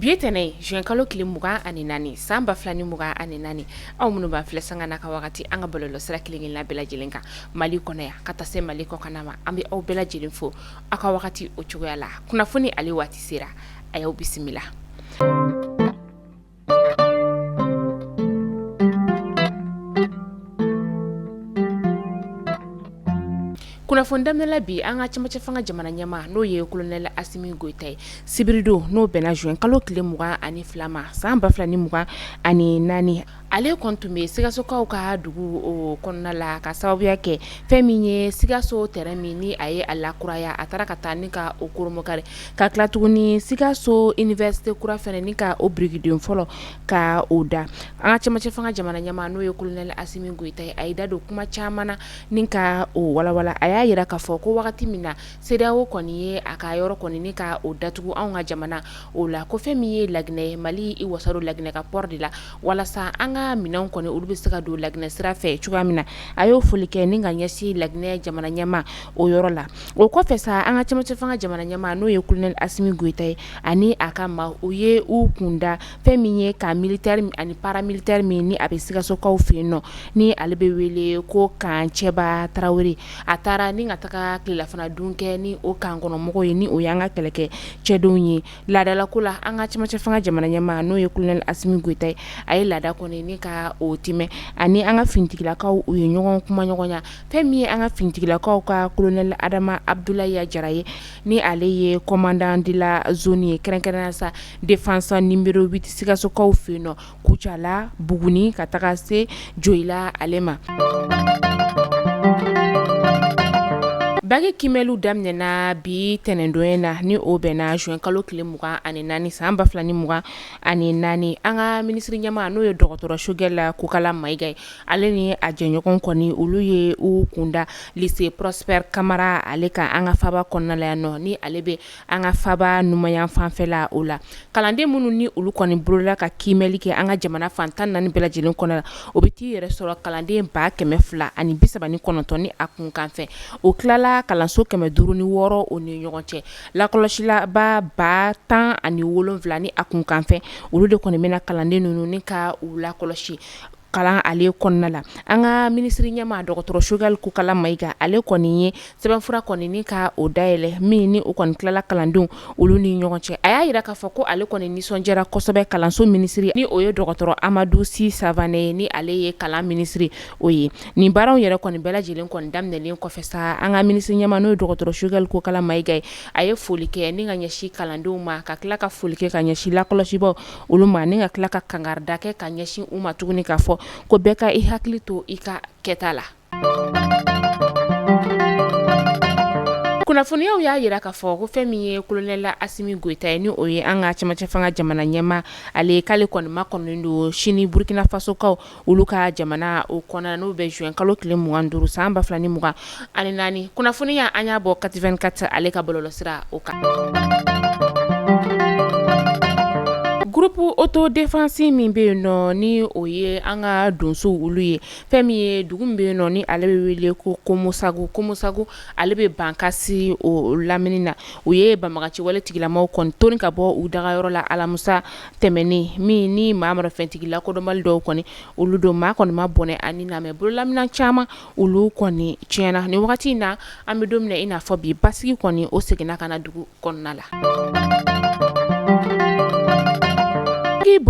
Bi tɛnɛn juin kalo tile mugan ani naani san ba fila ni mugan ani naani aw minnu b'an filɛ sanga na ka wagati an ka bɔlɔlɔsira kelenkelen la bɛɛ lajɛlen kan mali kɔnɔ yan ka taa se mali kɔkan ma an bɛ aw bɛɛ lajɛlen fo aw ka wagati o cogoya la kunnafoni ale waati sera a y'aw bisimila Kunnafoni daminɛla bi an ka cɛmancɛ fanga jamana ɲɛmaa n'o ye colonel Asimi Goyita ye, sibiridon n'o bɛnna juin kalo tile 22 ma san 2024, ale kɔni tun bɛ sikasokaw ka dugu o kɔnɔna la ka sababuya kɛ fɛn min ye sikaso terrain min ni a ye a lakuraya a taara ka taa ni ka o koromokari ka tila tuguni sikaso université kura fɛnɛ ni ka o birikiden fɔlɔ ka o da an ka cɛmancɛ fanga jamana ɲɛmaa n'o ye colonel Asimi Goyita ye a y'i da don kuma caman na ni ka o walawala a y'a yira k'a fɔ ko wagati min na CEDEAO kɔni ye a ka yɔrɔ kɔni ni ka o datugu anw ka jamana o la ko fɛn min ye laginɛ mali i wasa don laginɛ ka port de la walasa an ka minɛnw kɔni olu bɛ se ka don laginɛ sira fɛ cogoya min na a y'o foli kɛ ni ka ɲɛsin laginɛ jamana ɲɛmaa o yɔrɔ la o kɔfɛ sa an ka cɛmancɛ fanga jamana ɲɛmaa n'o ye Kolonɛli Asimi Goyita ye ani a ka maaw u ye u kun da fɛn min ye kan militɛri ani paramilitɛri min ni a bɛ sikasokaw fɛ yen nɔ ni ale bɛ wele ko Kan Cɛba Tarawele a taara ni ka taga tilelafanadun kɛ ni o kan kɔnɔmɔgɔw ye ni o y'an ka kɛlɛkɛ cɛdenw ye laadalako la an ka cɛmancɛ fanga jamana ɲɛmaa n'o ye Kolonɛli Asimi Goyita ye a ye laada kɔni ni ka o timɛ ani an ka finitigilakaw u ye ɲɔgɔn kumaɲɔgɔnya fɛn min ye an ka finitigilakaw ka kolonɛli Adama Abudulayi Jara ye ni ale ye commandant de la zone ye kɛrɛnkɛrɛnnenya sa défense numéro 8 sikasokaw fɛ yen nɔ Kucala Buguni ka taga se Joyila ale ma baki kimɛliw daminɛna bi ntɛnɛndon na ni o bɛnna juin kalo tile mugan ani naani san ba fila ni mugan ani naani an ka minisiri ɲɛmaa n'o ye dɔgɔtɔrɔ Sogɛl Kokala Mayiga ye Ale ni a jɛɲɔgɔn kɔni olu ye u kunda lise Prosper Kamara ale kan an ka faba kɔnɔnala yan nɔ ni ale bɛ an ka faba numanyan fanfɛla o la kalanden minnu ni olu kɔni bolola ka kimɛli kɛ an ka jamana fan tan ni naani bɛɛ lajɛlen kɔnɔ la o bɛ t'i yɛrɛ sɔrɔ kalanden ba kɛmɛ fila ani bisaba ni kɔnɔntɔn ni a kunkanfɛn o tilala kalanso kɛmɛ duuru ni wɔɔrɔ o ni ɲɔgɔn cɛ lakɔlɔsilaba ba tan ani wolonwula ni a kunkanfɛn olu de kɔni bɛna kalanden ninnu ni ka u lakɔlɔsi kalan ale kɔnɔna la an ka minisiri ɲɛmaa dɔgɔtɔrɔ sogɛli kokala mayiga ale kɔni ye sɛbɛnfura kɔni ni ka o dayɛlɛ min ni u kɔni tilala kalandenw olu ni ɲɔgɔn cɛ a y'a yira k'a fɔ ko ale kɔni nisɔndiyara kosɛbɛ kalanso minisiri ni o ye dɔgɔtɔrɔ amadu si savane ye ni ale ye kalan minisiri o ye nin baaraw yɛrɛ kɔni bɛɛ lajɛlen kɔni daminɛlen kɔfɛ sa an ka minisiri ɲɛmaa n'o ye dɔgɔtɔrɔ sogɛli kokala mayiga ye a ye foli kɛ ni ka ɲɛsin kalandenw ma ka tila ka foli kɛ ka ɲɛsin lakɔlɔsibaw olu ma ni ka tila ka kangarida kɛ ka ɲɛsin u ma tuguni k'a fɔ ko bɛɛ ka i hakili to i ka kɛta la kunnafoniyaw y'a yira k'a fɔ ko fɛn min ye kolonɛli asimi goyita ye ni o ye an ka cɛmancɛ fanga jamana ɲɛmaa ale k'ale kɔni makɔnɔnen don sini burukinafasokaw olu ka jamana o kɔnɔna n'o bɛ juin kalo tile mugan duuru san ba fila ni mugan ani naani kunnafoniya an y'a bɔ kati vingt-quatre ale ka bɔlɔlɔsira o kan groupe autodéfense min bɛ yen nɔ ni o ye an ka donsow olu ye fɛn min ye dugu min bɛ yen nɔ ni ale bɛ wele ko komosagu komosagu ale bɛ bankasi o lamini na u ye banbagaciwale tigilamaw kɔni toni ka bɔ u dagayɔrɔ la alamusa tɛmɛnen min ni maa marafɛntigi lakodɔnbali dɔw kɔni olu don maa kɔni ma bɔnɛ a ni na mais bololaminan caman olu kɔni tiɲɛna ni wagati in na an bɛ don min na i n'a fɔ bi basigi kɔni o seginna ka na dugu kɔnɔna la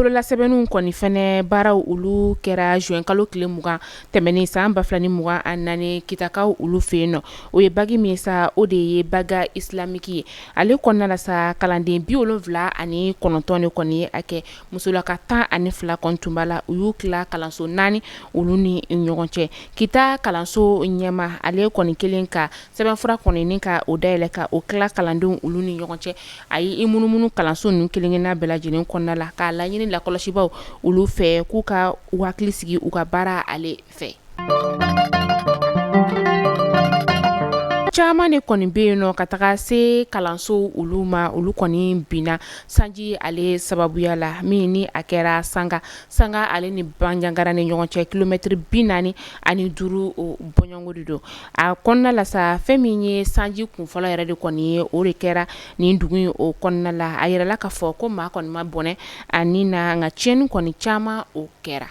bololasɛbɛnniw kɔni fɛnɛ baaraw olu kɛra juin kalo tile mugan tɛmɛnen san ba fila ni mugan ani naani kitakaw olu fɛ yen nɔ o ye bac min sa o de ye bac islamique ye Ale kɔnɔna la sa kalanden bi wolonwula ani kɔnɔntɔn de kɔni ye a kɛ musolaka tan ani fila kɔni tun b'a la u y'u tila kalanso naani olu ni ɲɔgɔn cɛ kita kalanso ɲɛmaa ale kɔni kelen ka sɛbɛnfura kɔni ni ka o dayɛlɛ ka o tila kalandenw olu ni ɲɔgɔn cɛ a ye i munumunu kalanso ninnu kelenkelenna bɛɛ lajɛlen kɔnɔna la k'a laɲini lakɔlɔsibaw olu fɛ k'u ka u hakili sigi u ka baara ale fɛ caman de kɔni bɛ yen nɔ ka taga se kalansow olu ma olu kɔni binna sanji ale sababuya la min ni a kɛra sanga sanga ale ni banjagara ni ɲɔgɔn cɛ kilomɛtiri bi naani ani duuru bɔɲɔgɔnko de don a kɔnɔna la sa fɛn min ye sanji kunfɔlɔ yɛrɛ de kɔni ye o de kɛra nin dugu in o kɔnɔna la a yirala k'a fɔ ko maa kɔni ma bɔnɛ a ni na nka ciɲɛni kɔni caman o kɛra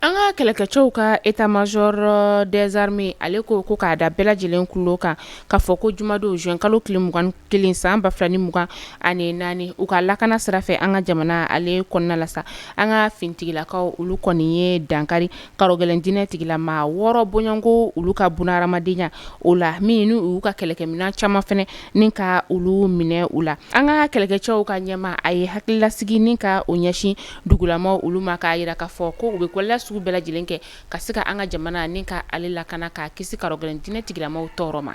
an ka kɛlɛkɛcɛw ka état-major des armées ale ko ko k'a da bɛɛ lajɛlen kulo kan k'a fɔ ko jumadon juin kalo tile mugan kelen san ba fila ni mugan ani naani u ka lakana sira fɛ an ka jamana ale kɔnɔna la sa an ka finitigilakaw olu kɔni ye dankari gɛlɛn dinɛ tigilama wɔɔrɔ bɔɲɔgɔnko olu ka bɔnɛ hadamadenya o la min ni u ka kɛlɛkɛminɛn caman fana ni ka olu minɛ u la an ka kɛlɛkɛcɛw ka ɲɛmaa a ye hakililasigi ni ka o ɲɛsin dugulamaw olu ma k'a yira k'a fɔ ko u bɛ kɛwale sugu bɛɛ lajɛlen kɛ ka se ka an ka jamana ni ka ale lakana k'a kisi karogɛlɛn dinɛ tigilamaw tɔɔrɔ ma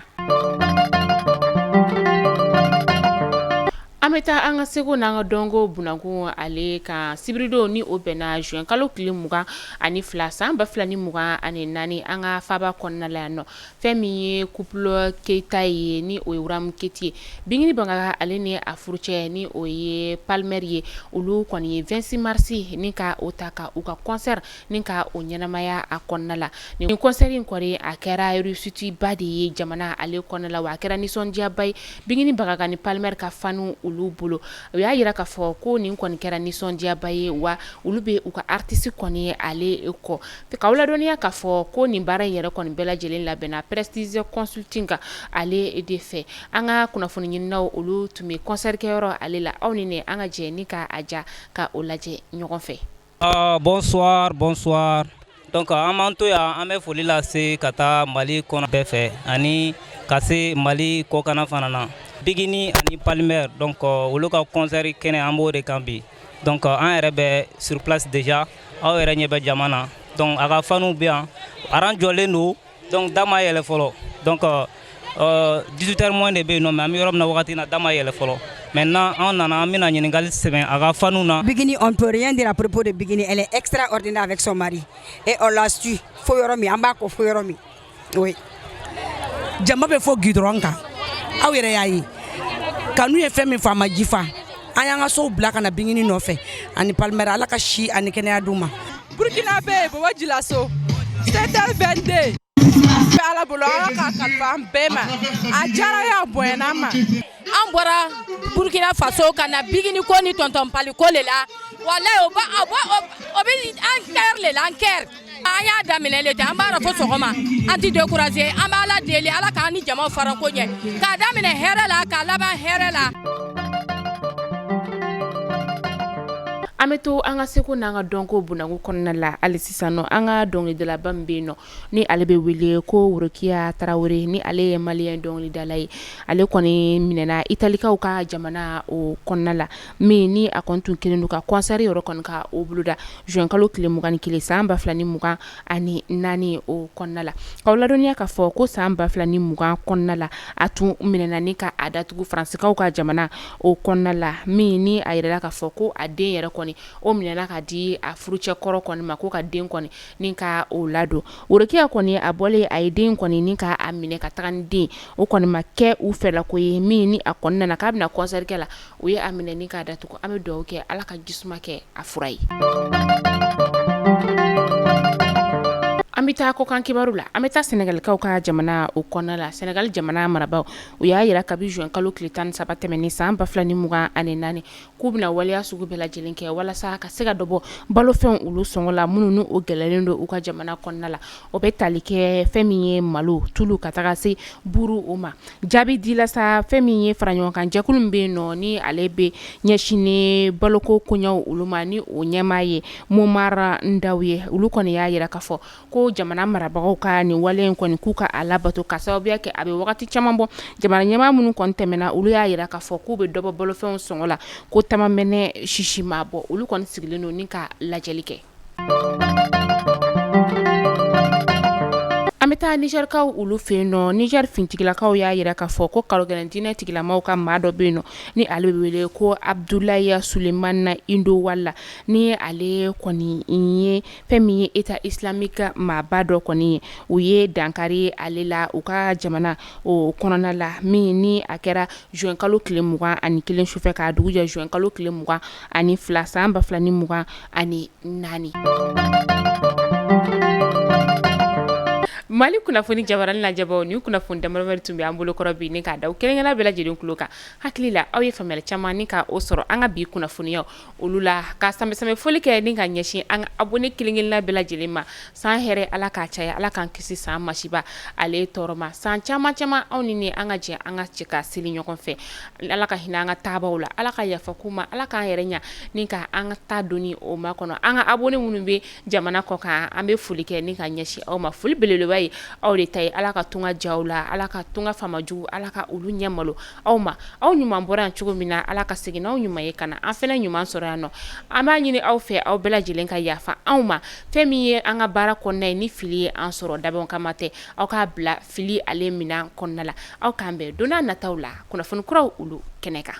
An bɛ taa an ka seko n' an ka dɔnko bunakun ale kan sibiridon ni o bɛnna zuwɛn kalo tile mugan ani fila san ba fila ni mugan ani naani an ka faba kɔnɔna la yan nɔ fɛn min ye couple keyita ye ni o ye wuramu keyita ye bigini bagaga ale ni a furucɛ ni o ye palmer ye olu kɔni ye 26 marisi ni ka o ta ka u ka kɔnsɛri ni ka o ɲɛnamaya a kɔnɔna la ni kɔnsɛri in kɔni a kɛra réussite ba de ye jamana ale kɔnɔna la wa a kɛra nisɔndiyaba ye bigini bagaga ni palmer ka fanw olu bolo u y'a yira k'a fɔ ko nin kɔni kɛra nisɔndiyaba ye wa olu bɛ u ka atisi kɔni ale kɔ k'aw ladɔnniya k'a fɔ ko nin baara in yɛrɛ kɔni bɛɛ lajɛlen labɛnna prestige consulting ale de fɛ an ka kunnafoni ɲininaw olu tun bɛ kɔnsɛrikɛyɔrɔ ale la aw ni ne an ka jɛ ni k'a ja ka o lajɛ ɲɔgɔn fɛ Aa bɔnswari bɔnswari donc an b'an to yan an bɛ foli lase ka taa mali kɔnɔ bɛɛ fɛ ani ka se mali kɔkan fana na bigini ani palmer donc olu ka kɔnsɛri kɛnɛ an b'o de kan bi donc an yɛrɛ bɛ sur place déjà aw yɛrɛ ɲɛ bɛ jama na donc a ka fanw bɛ yan aran jɔlen don donc da ma yɛlɛ fɔlɔ donc 18 heures moins de bɛ yen nɔ mais an bɛ yɔrɔ min na wagati na da ma yɛlɛ fɔlɔ maintenant an nana an bɛna ɲininkali sɛmɛ a ka fanw na. Bigini on peut rien dire à propos de Bigini elle est extraordinaire avec son mari et on la suit fo yɔrɔ min an b'a kɔ fo yɔrɔ min oui jama bɛ fo gudɔrɔn kan aw yɛrɛ y'a ye kanu ye fɛn min fɔ a ma jifa. an y'an ka sow bila ka na bigini nɔfɛ ani palimɛri ala ka si ani kɛnɛya d'u ma burkina bɛ yen bɔbɔ jilaso secteur 22 bɛ ala bolo ala ka kalifa an bɛɛ ma a diyara ye a bonyana ma an bɔra burkina faso ka na bigini ko ni tɔntɔn pali ko le la walayi o bɛ an kɛri le la an kɛri an y'a daminɛ le ten an b'a dɔ fo sɔgɔma an tɛ décourager an bɛ Ala deli Ala k'an ni jama fara ko ɲɛ k'a daminɛ hɛrɛ la k'a laban hɛrɛ la. an bɛ to an ka seko n'an ka dɔnko bunako kɔnɔna la hali sisan nɔ an ka dɔnkilidalaba min bɛ yen nɔ ni ale bɛ wele ko Worokiya Tarawele ni ale ye maliyɛn dɔnkilidala ye ale kɔni minɛna italikaw ka jamana o kɔnɔna la min ni a kɔni tun kɛlen don ka kɔnsɛri yɔrɔ kɔni ka o boloda zuwɛnkalo tile mugan ni kelen san ba fila ni mugan ani naani o kɔnɔna la k'aw ladɔnniya k'a fɔ ko san ba fila ni mugan kɔnɔna la a tun minɛna ni ka a datugu faransikaw ka jamana o kɔnɔna la min ni a jirala k'a fɔ ko a den yɛrɛ kɔni o minɛna ka di a furucɛkɔrɔ kɔni ma ko ka den kɔni ni ka o ladon worokiya kɔni a bɔlen a ye den kɔni ni k'a minɛ ka taga ni den o kɔni ma kɛ u fɛlako ye min ni a kɔni nana k'a bɛna kɔnsɛri kɛ la u ye a minɛ ni k'a datugu an bɛ dugawu kɛ ala ka jisuma kɛ a fura ye an bɛ taa kɔkan kibaru la an bɛ taa sɛnɛgalikaw ka jamana o kɔnɔna la sɛnɛgali jamana marabagaw u y'a jira kabi zuwɛnkalo tile tan ni saba tɛmɛnen san ba fila ni mugan ani naani k'u bɛna waleya sugu bɛɛ lajɛlen kɛ walasa ka se ka dɔ bɔ balofɛnw olu sɔngɔ la minnu ni o gɛlɛlen don u ka jamana kɔnɔna la o bɛ tali kɛ fɛn min ye malo tulu ka taga se buru o ma Jaabi dila sa fɛn min ye faraɲɔgɔnkan jɛkulu min bɛ yen nɔ ni ale bɛ ɲɛsin baloko koɲɛw olu ma ni o ɲɛmaa ye momar ndaw ye olu kɔni y'a jira k'a fɔ ko jamana marabagaw ka nin wale in kɔni k'u ka a labato ka sababuya kɛ a bɛ wagati caman bɔ jamana ɲɛmaa minnu kɔni tɛmɛna olu y'a jira k'a fɔ k'u bɛ dɔ bɔ balofɛnw sɔngɔ la ko ta ma mɛnɛ sisi ma bɔ olu kɔni sigilen don ni ka lajɛli kɛ An bɛ taa nizɛrikaw olu fɛ yen nɔ nizɛri finitigilakaw y'a jira k'a fɔ ko karogɛlɛn diinɛtigilamaw ka maa dɔ bɛ yen nɔ ni ale bɛ wele ko abudulayi sulemana indo wala ni ale kɔni ye fɛn min ye eta isilamiki maaba dɔ kɔni ye u ye dankari ale la u ka jamana o kɔnɔna la min ni a kɛra zuwɛnkalo tile mugan ani kelen sufɛ k'a dugu jɛ zuwɛnkalo tile mugan ani fila san ba fila ni mugan ani naani mali kunnafoni jabaranin lajɛbaw ni kunnafoni damadama de tun bɛ an bolokɔrɔ bi ni k'a da aw kelenkelenna bɛɛ lajɛlen tulo kan hakili la aw ye faamuyali caman ni k' o sɔrɔ an ka bi kunnafoniyaw olu la ka sanbɛsanbɛ foli kɛ ni ka ɲɛsin an ka abɔne kelenkelenna bɛɛ lajɛlen ma San hɛrɛ ala k'a caya ala k'an kisi san masiba ale tɔɔrɔ ma san caman caman anw ni an ka jɛ an ka cɛ ka seli ɲɔgɔn fɛ ala ka hinɛ an ka taabaaw la ala ka yafa k'u ma ala k'an yɛrɛ ɲɛ ni ka an ka taa don o makɔnɔ an ka abɔne minnu bɛ jamana kɔ kan an bɛ foli kɛ ni ka ɲɛsin aw ma foli beleba ye aw de ta ye ala ka tunga diya aw la ala ka tunga faama jugu ala ka olu ɲɛ malo aw ma aw ɲuman bɔra yan cogo min na ala ka segin aw ɲuman ye ka na an fana ɲuman sɔrɔ yan nɔ an b'a ɲini aw fɛ aw bɛɛ lajɛlen ka yafa anw ma Fɛn min ye an ka baara kɔnɔna ye ni fili ye an sɔrɔ dabɔ kama tɛ aw k'a bila fili ale minɛn kɔnɔna la aw k'an bɛn don nataw la kunnafoni kuraw olu kɛnɛ kan